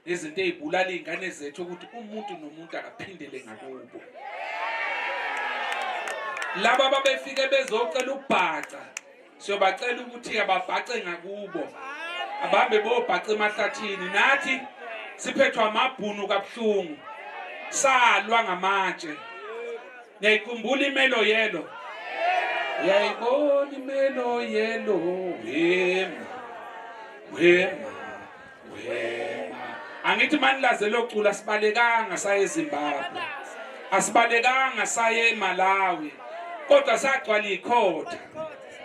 nezinto ezibulala izingane zethu ukuthi umuntu nomuntu akaphindele ngakubo laba babefike bezocela ubhaca siyobacela ukuthi ababhace ngakubo abambe bobhaca emahlathini nathi siphethwa amabhunu kabuhlungu salwa ngamatshe niyayikhumbula imelo yelo uyayibona imelo yelo wema wema angithi manilaze locula sibalekanga saye ezimbabwe asibalekanga saye emalawi kodwa sagcwala ikhotha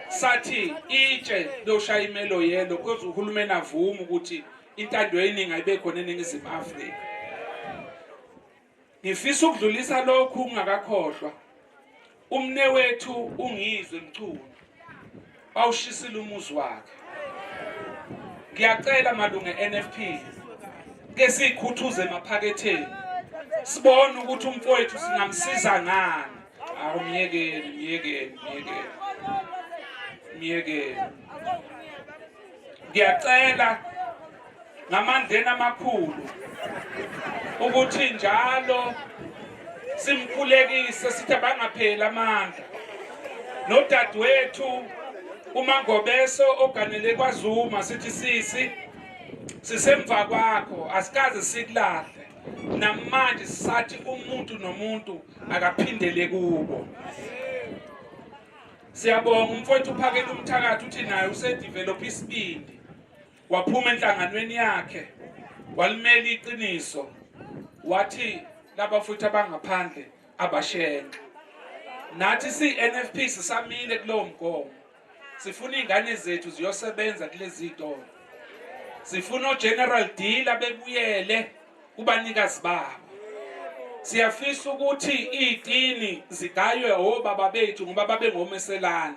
sathi itshe loshaya imelo yelo kodwa uhulumeni avuma ukuthi intando yeningi ayibe khona eningizimu afrika Ngifisa ukudlulisa lokhu ungakakhohlwa. Umnewethu ungizwe mchunu. Bawushisile umuzi wakhe. Ngiyacela malunge NFP ke sikhuthuze emaphaketheni. Sibone ukuthi umfowethu singamsiza ngani. Awumyekeni, myekeni, myekeni. Myekeni. ngiyacela ngamandleni amakhulu ukuthi njalo simkhulekise sithi abangapheli amandla nodadewethu umangobeso oganele kwazuma sithi sisi sisemva kwakho asikaze sikulahle namanje sathi umuntu nomuntu akaphindele kubo Siyabonga umfowethu uphakela umthakathi uthi naye usedevelop isibindi waphuma enhlanganweni yakhe walimela iqiniso wathi laba futhi abangaphandle abashenxe nathi siNFP sisamile kulowo mgomo sifuna izingane zethu ziyosebenza kulezi zitolo sifuna ogeneral deal abebuyele kubanikazi babo siyafisa ukuthi iitini zigaywe obaba bethu ngoba babengomeselane